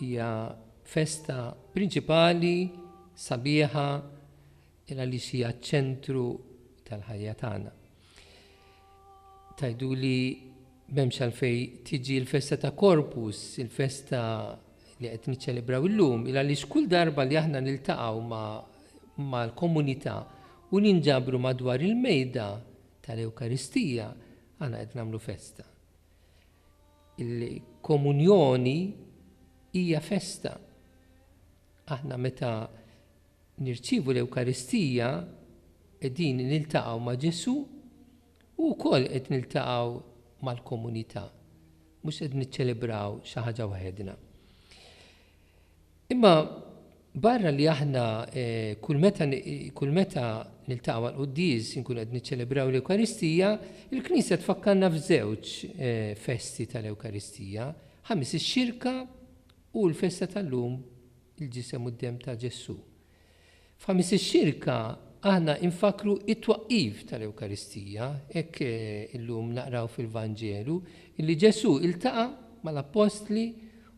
Hija festa prinċipali, sabiħa, il għaliex hija ċ-ċentru tal-ħajja tagħna. Tgħiduli m'hemmx għalfejn tiġi l-festa ta' Corpus, il-festa li qed niċċelebraw illum, il għaliex kull darba li aħna niltaqgħu mal-komunità u ninġabru madwar il-mejda tal-Ewkaristija, aħna qed nagħmlu festa. Il-Komunjoni hija festa. Aħna meta nirċievu l-Ewkaristija qegħdin niltaqgħu ma' Ġesù u wkoll qed niltaqgħu mal-komunità, mhux qed niċċelebraw xi ħaġa waħedna. Imma barra li aħna kull meta kull meta niltaqgħu għall-quddies inkunu qed niċċelebraw l-Ewkaristija, il-Knisja tfakkarna f'żewġ festi tal-Ewkaristija, Ħamis ix-Xirka u l-festa tal-lum il-Ġisem u d-Demm ta' Ġesù. F'Ħamis Xirka aħna infakkru t-twaqqif tal-Ewkaristija. Hekk illum naqraw fil-Vanġelu li Ġesù ltaqa' mal-Appostli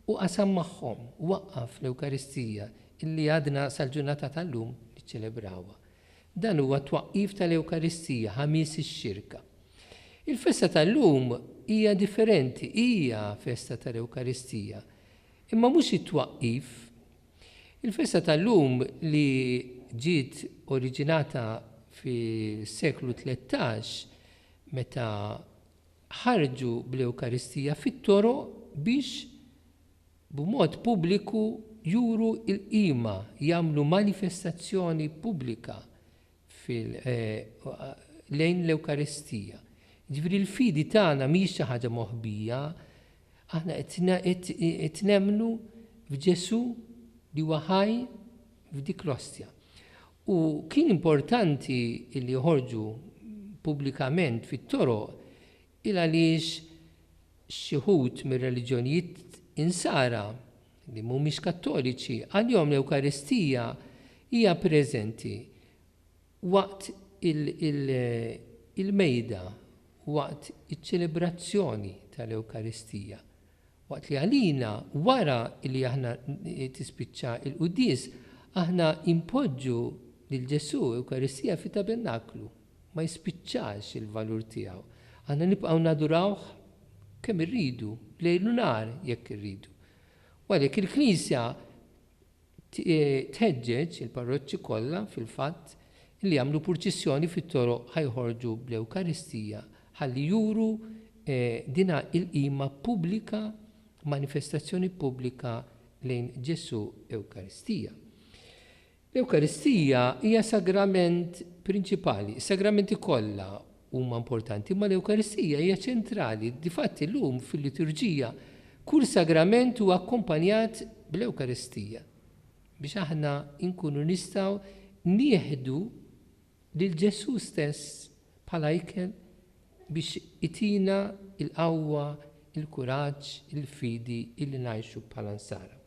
u qasam magħhom, waqqaf l-Ewkaristija li għadna sal-ġurnata tal-lum niċċelebrawha. Dan huwa t-twaqqif tal-Ewkaristija, Ħamis Xirka. Il-festa tal-lum hija differenti, hija festa tal-Ewkaristija, imma mhux it-twaqqif, Il-festa tal-lum li ġiet oriġinata fis-seklu tlettax meta ħarġu bl-Ewkaristija fit-toroq biex b'mod pubbliku juru l-qima, jagħmlu manifestazzjoni pubblika lejn l-Ewkaristija. Jiġifieri l-fidi tagħna mhijiex xi ħaġa moħbija, aħna qed nemmnu f'Ġesù li huwa ħaj f'dik l-Ostja. U kien importanti li joħorġu pubblikament fit-toroq Il għaliex xi wħud mir-reliġjonijiet Insara, li mhumiex Kattoliċi, għalihom l-Ewkaristija hija preżenti waqt il-Mejda, waqt iċ-ċelebrazzjoni tal-Ewkaristija, waqt li għalina wara li aħna tispiċċa l-quddies aħna inpoġġu lil Ġesù, Ewkaristija, fit-tabernaklu. ma jispiċċax il-valur tiegħu. Aħna nibqgħu nadurawh kemm irridu, lejl u nhar jekk irridu. U għalhekk il-Knisja tħeġġeġ il-parroċċi kollha fil-fatt li jagħmlu purċissjoni fit-toroq ħajħorġu bl-Ewkaristija ħalli juru dina il-qima pubblika, manifestazzjoni pubblika lejn Ġesù Ewkaristija. L-Ewkaristija hija sagrament prinċipali. Is-sagramenti kollha huma importanti, imma l-Ewkaristija hija ċentrali. Difatti, llum fil-liturġija, kull sagrament huwa akkumpanjat bl-Ewkaristija biex aħna nkunu nistgħu nieħdu lil Ġesù stess bħala ikel biex itina l-qawwa, il-kuraġġ, il-fidi illi ngħixu bħala Nsara.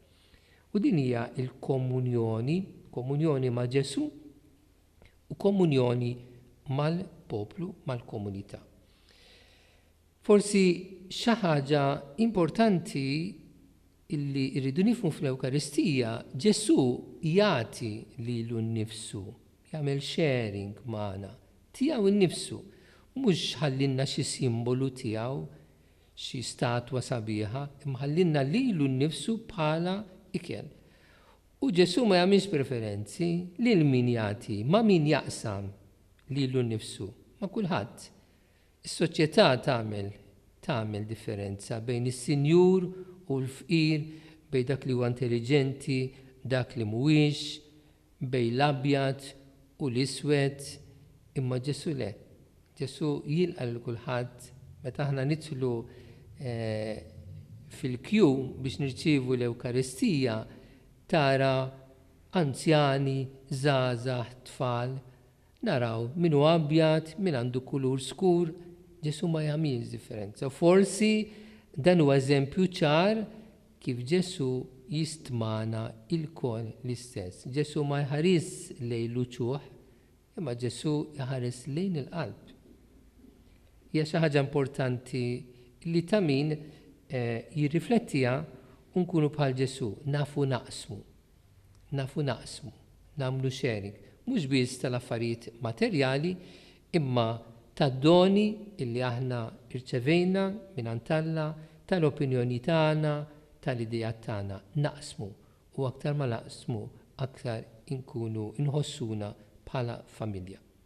U din hija l-komunjoni, komunjoni ma' Ġesù u komunjoni mal-poplu, mal-komunità. Forsi xi ħaġa importanti li rridu nifhmu fl-Ewkaristija, Ġesù jagħti lilu nnifsu, jagħmel sharing magħna, tiegħu nnifsu, mhux ħallilna xi simbolu tiegħu, Xi statwa sabiħa, imma ħallielna lilu nnifsu bħala ikel. U Ġesù ma jagħmilx preferenzi lil min jagħti, ma' min jaqsam lilu nnifsu, ma' kulħadd. Is-soċjetà tagħmel tagħmel differenza bejn is-sinjur u l-fqir, bejn dak li huwa intelliġenti, dak li mhuwiex, bejn l-abjad u l-iswed, imma Ġesù le. Ġesù jilqa' lil kulħadd. Meta aħna nidħlu fil-kju biex nirċievu l-Ewkaristija, tara anzjani, żgħażagħ, tfal, Naraw min hu abjad, min għandu kulur skur, Ġesù ma jagħmilx differenza. U forsi dan huwa eżempju ċar kif Ġesù jistmana lkoll l-istess. Ġesù ma jħarisx lejn l-uċuħ, imma Ġesù jħares lejn il-qalb. Hija xi ħaġa importanti li ta' min jirriflettiha u nkunu bħal Ġesù, nafu naqsmu. Nafu naqsmu, nagħmlu sharing, mhux biss tal-affarijiet materjali, imma tad-doni li aħna rċevejna mingħand Alla, tal-opinjoni tagħna, tal-ideat tagħna. Naqsmu, u aktar ma naqsmu, aktar inkunu nħossuna bħala familja.